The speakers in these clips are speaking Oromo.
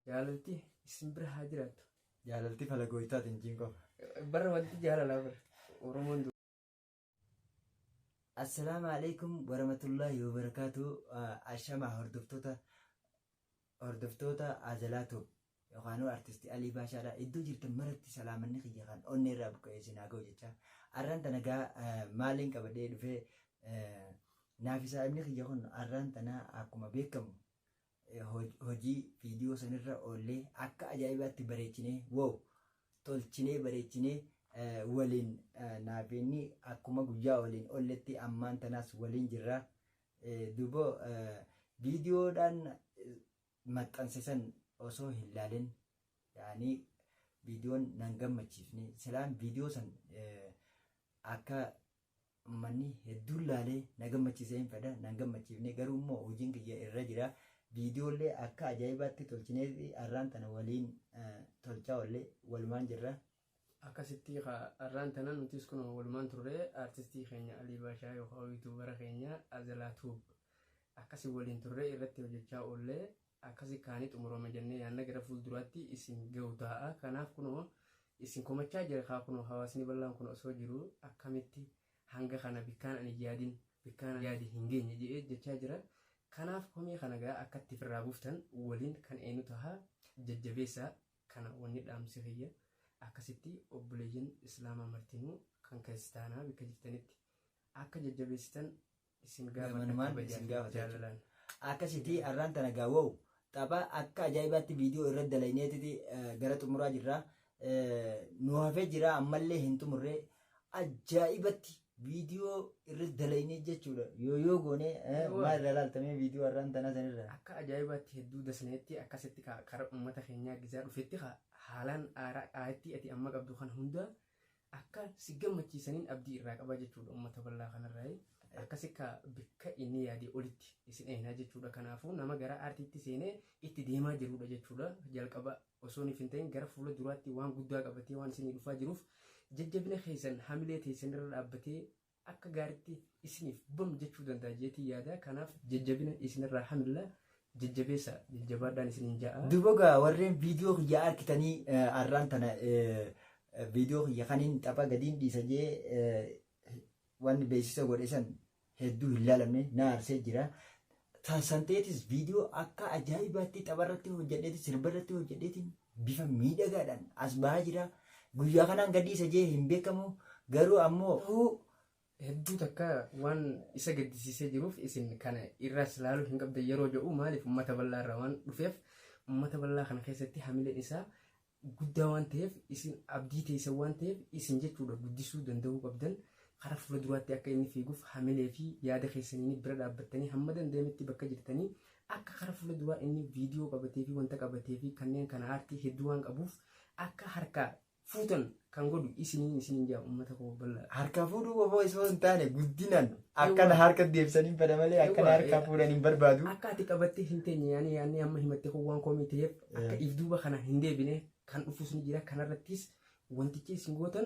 Jaalalti isin bira haa jiraattu. Jaalalti fala gooytaati hin jiin qofa. Bara wanti jaalalaa bara. Oromoon du- Assalaamu alaikum warahmatullahi wabarakaatu ashama hordoftoota hordoftoota Azalaa Tube yookaanuu artisti Alii Baashaadha iddoo jirtan maratti salaamanni kiyya kan onnee irraa buqqa'ee isin haa ga'u jecha arraan tana gaa eh, maaliin qabadhee dhufee eh, naaf isaa inni kiyya kun arraan tana akkuma beekamu hojii viidiyoo sanirra oollee akka ajaa'ibaatti bareechinee wow tolchinee bareechinee waliin naafeenni akkuma guyyaa waliin oolletti ammaan tanaas waliin jirra. Duuba viidiyoodhaan maxxansisan osoo hin laalin yaani viidiyoon nan gammachiifne silaan viidiyoo san akka ummanni hedduun laalee na gammachiisee hin fedha nan gammachiifne garuu immoo hojiin kiyya irra jira viidiyoollee akka ajaa'ibaatti tolchinee fi arraan tana waliin eh, tolchaa ollee walumaan jirra. akkasitti ka arraan tana nutis kun walumaan turre aartistii keenya Alii Baashaa yookaan yuutuubara keenya Azalaa Tuub akkasi waliin turre irratti hojjechaa oollee akkasi kaani xumurama jenne yaanna gara fuulduraatti isin gahu taa'a kanaaf kunoo isin komachaa jira kaa kunoo hawaasni bal'aan kun osoo jiru akkamitti hanga kana bikkaan ani yaadin bikkaan ani yaade hin geenye jedhee jechaa jira kanaaf komii kana gaa akkatti firraa buftan waliin kan eenu taha jajjabeessa kana wanni dhaamsi kiyya akkasitti obboleeyyan islaamaa martinuu kan kiristaanaa bikka jirtanitti akka jajjabeessitan isin Gamanumaan gaafadha isin gaafata jechuudha. jaalalaan. Akkasitti har'aan tana gaa wow tapha akka ajaa'ibaatti viidiyoo irra dalayneetiti gara xumuraa jirra. Eh, Nu hafee jira ammallee hin xumurre ajaa'ibatti viidiyoo irra dalaynee jechuudha. Yoo yoo goone eh, Yoo. maal irraa laaltamee viidiyoo har'aan tanaa sanirra. Akka ajaa'ibaatti hedduu dasneetti akkasitti ka- kara uummata keenyaa gizaa dhufetti ka- haalaan aaraa aayattii ati amma qabdu kana hunda Akka si gammachiisaniin abdii irraa qaba jechuudha ummata bal'aa kanarraayi. Akkas akka bikka inni yaadee olitti isin eeynaa jechuudha. Kanaafuu nama gara aartiitti seenee itti deemaa jiruudha jechuudha. Jalqaba osooniif hin ta'in gara fuula duraatti waan guddaa qabatee waan isinii dhufaa jiruuf jajjabina keeysan hamilee teeysanirra dhaabbatee akka gaaritti isiniif bam jechuu danda'a jeetii yaada kanaaf jajjabina isinirraa hamilla jajjabeessa jajjabaadhaan isiniin ja'a. Dubogaa warreen viidiyoo kiyya arkitanii arraan tana viidiyoo kiyya kaniin tapha gadiin dhiisa jee wanni beeksisa godhe san hedduu hin laalamne na arsee jira. Santeetis viidiyoo akka ajaa'ibaatti tapharratti hojjedheetiin sirbarratti hojjedheetiin bifa miidhagaadhaan as bahaa jira. Guyyaa kanaan gadii isa jee hin beekamu garuu ammoo Ta'uu hedduu takka waan isa gaddisiisee jiruuf isin kana irraas ilaaluu hin qabdan yeroo jedhu maaliif uummata bal'aa irraa waan dhufeef uummata bal'aa kana keessatti hamileen isaa guddaa waan ta'eef isin abdii teessan waan ta'eef isin jechuudha guddisuu danda'uu qabdan karaa fuula duraatti akka inni fiiguuf hamilee fi yaada keessaniin bira dhaabbattanii hamma danda'ametti bakka jirtanii akka karaa fuula duraa inni viidiyoo qabatee fi wanta qabatee fi kanneen kana aartii hedduu waan qabuuf akka harkaa fuutan kan godhu isiniin isiniin jaa uummata koo bal'aa harkaa fuudhuu qofoo isoo hin taane guddinaan akkana harka deebisanii bada malee akkana harkaa fuudhan hin barbaadu. Akka ati qabattee hin teenye yaani yaani amma himattee koo waan koomii ta'eef akka if duuba kana hin deebine kan dhufus ni jira kanarrattis wantichi isin gootan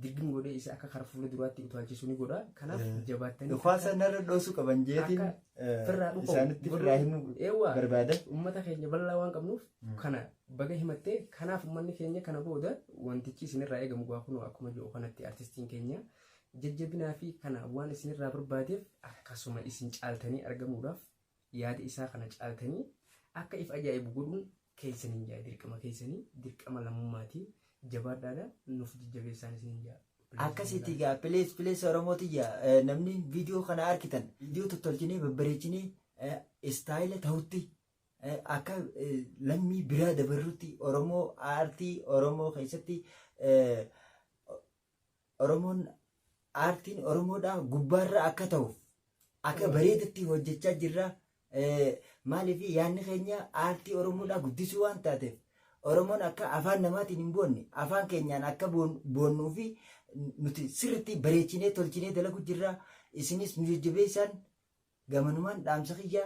dirqin godhee isa akka kara fuula duraatti utaalchisu ni godha kanaaf jabaattanii Dhukaasa narra dhoosuu qaban jeetiin firraa dhufu isaanitti firraa himuu eewwa barbaada. uummata keenya bal'aa waan qabnuuf kana Baga himatte kanaaf ummanni keenya kana booda wantichi isinirraa eegamu gaa kunoo akkuma jiru kanatti artistiin keenya jajjabinaa fi kana waan isinirraa barbaadeef akkasuma isin caaltanii argamuudhaaf yaada isaa kana caaltanii akka if ajaa'ibu godhuun keessaniin jaa dirqama keessanii dirqama lammummaati jabaadhaadha nuuf jajjabeessaan isiniin jaa. Akkasitti gaa pilees pilees Oromoo tiyya eh, namni viidiyoo kana arkitan viidiyoo tottolchinee babbareechinee eh, istaayila ta'utti akka lammii biraa dabarrutti Oromoo aartii Oromoo keessatti Oromoon aartiin Oromoodhaa gubbaarra akka ta'uuf akka bareedutti hojjechaa jirra. Maaliif yaadni keenya aartii Oromoodhaa guddisuu waan taateef Oromoon akka afaan namaatiin hin boonne afaan keenyaan akka boonnuu fi nuti sirriitti bareechinee tolchinee dalagu jirra. Isinis nu jajjabeessaan Gamanumaan dhaamsa kiyya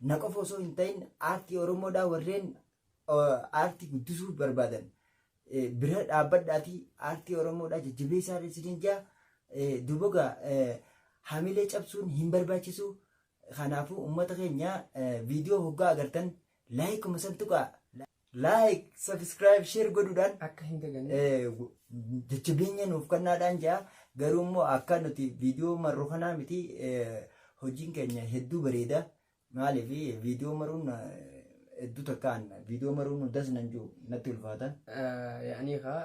na qofa osoo hin ta'in aartii Oromoodhaa warreen aartii guddisuu barbaadan bira dhaabbadhaatii aartii Oromoodhaa jajjabeessaa isiniin jaa dubogaa hamilee cabsuun hin barbaachisu kanaafuu uummata keenya viidiyoo hoggaa agartan laayikuma san tuqaa like subscribe share godhuudhaan akka hin daganne eh, gu- jajjabeenya nuuf kennaadhaan jaa garuu immoo akka nuti viidiyoo marru kanaa miti eh, hojiin keenya hedduu bareeda maaliif viidiyoo maruun eh, hedduu takkaan viidiyoo maruun hundas nan jiru natti ulfaata yaa'anii kaa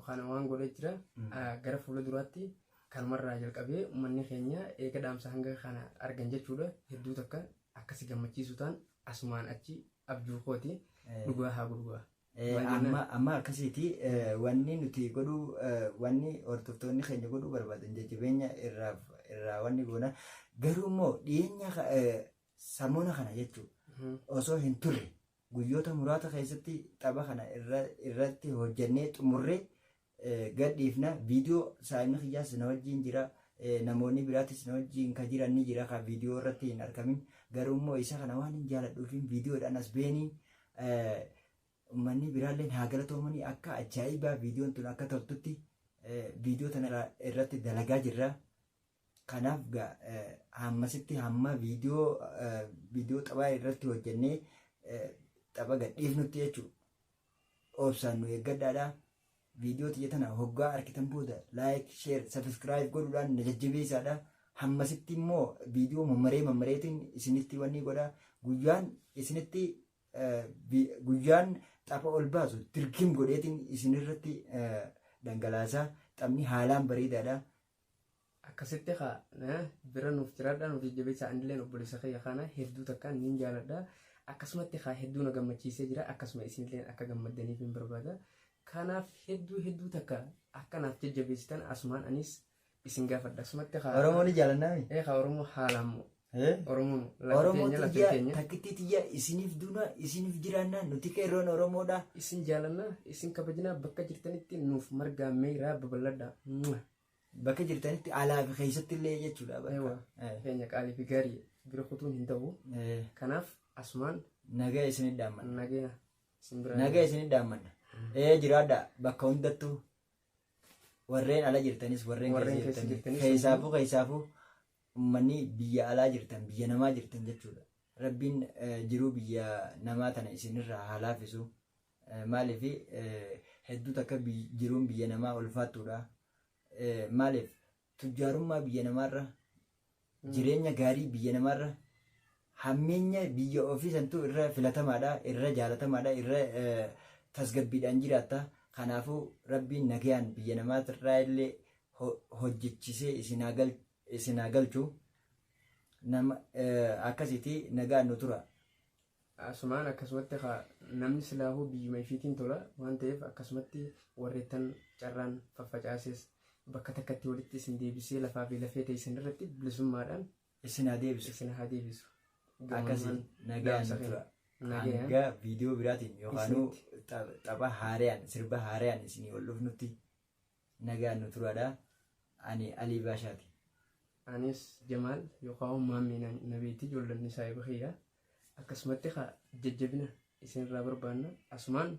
kana waan godhee jira Ah, gara fuula duraatti kanumarraa jalqabee uummanni keenya eega dhaamsa hanga kana argan jechuudha hedduu takka akka si gammachiisu taan asumaan achi abjuu kooti dhugaa haa gurgura. Amma amma akkasiiti wanni nuti godhuu wanni hordoftoonni keenya godhuu barbaadan jajjabeenya irraa irraa wanni goona garuu immoo dhiyeenya samoona kana jechuun osoo hin turre guyyoota muraasa keessatti tapha kana irratti hojjannee xumurree gad dhiifna viidiyoo saayimni kiyyaas na wajjiin jira namoonni biraatis na wajjiin ka jiran ni jira ka viidiyoo irratti hin argamin garuu immoo isa kana waan hin jaaladhuufiin viidiyoodhaan as beeniin ummanni biraalleen haa galatoomanii akka ajaa'ibaa viidiyoon tun akka toltutti viidiyoo tana irratti dalagaa jirra. Kanaaf hammasitti hamma viidiyoo viidiyoo taphaa irratti hojjennee tapha gadhiifnutti jechuudha. Obsaan nu eeggadhaadha. Viidiyoo tiyya tana hoggaa arkitan booda like, share, subscribe godhuudhaan na jajjabeessaadha. Hammasitti immoo viidiyoo mammaree mammareetiin isinitti wanni godha. Guyyaan isinitti eh, bi- guyyaan tapha ol baasu dirgim godheetiin isinirratti eh, dhangalaasa. Taphni haalaan bareedaadha. akkasitti kaa na bira nuuf jiraadhaa nuuf jajjabeessaa anilleen obboleessa kiyya kana hedduu takkaan niin jaaladha akkasumatti kaa hedduu na gammachiisee jira akkasuma isinilleen akka gammaddaniif hin barbaada kanaaf hedduu hedduu takka akka naaf jajjabeessitan asumaan anis isin gaafadha asumatti kaa Oromoo ni jaalannaami. ee kaa oromoo haalaan moo Eh? Oromoo lafa Oromoo keenya lafa tiyya keenya. takkittii tiyya isiniif duuna isiniif jiraanna nuti qeerroon Oromoodha. Isin jaalanna isin kabajinaa bakka jirtanitti nuuf margaa meeraa babal'adha. Mwah. Bakka jirtanitti alaa fi keessatti illee jechuudha. bakka. Ewa. Eh. Keenya qaalii fi gaarii bira kutuun hin ta'u. Eh, Kanaaf asumaan Nagaa isinit dhaammanna. nagaya isin biraa. Nagaa isinit dhaammanna. Ee jiraadha bakka hundattuu warreen ala jirtanis warreen Warreen keessa keessa jirtanis jirtanis keessaafuu keessaafuu ummanni biyya alaa jirtan biyya namaa jirtan jechuudha rabbiin jiruu biyya namaa tana isinirraa haa laafisu maaliif hedduu takka jiruun biyya namaa ulfaattuudha maaliif tujjaarummaa biyya namaarra jireenya gaarii biyya namaarra Hammeenya biyya ofii santu irra filatamaadha, irra jaalatamaadha, irra tasgabbiidhaan jiraatta. Kanaafuu Rabbiin nagayaan biyya namaatirraa illee hojjechisee isin haa galchu. Akkasiiti nagaan nu tura. Asumaan akkasumatti kaa namni silaahuu biyyuma ifiitiin tola waan ta'eef akkasumatti warreettan carraan faffacaasees bakka takkatti walitti isin deebisee lafaa fi lafee teessan irratti bilisummaadhaan Isin haa deebisu. Isin haa deebisu. Akkasi Gamammaan nagaan dhaamsa nu keenya. tura. Nagayaan. Hanga viidiyoo biraatiin yookaanuu Isinitti. ta- tapha haarayaan sirba haarayaan isinii ol dhufnutti nagaan nu turaadha. Ani Alii Baashaati. Anis Jamaal yookaan maammii na- na beekti ijoolleen isaa eebbiseera. Akkasumatti haa jajjabina isinirraa barbaanna. Asumaan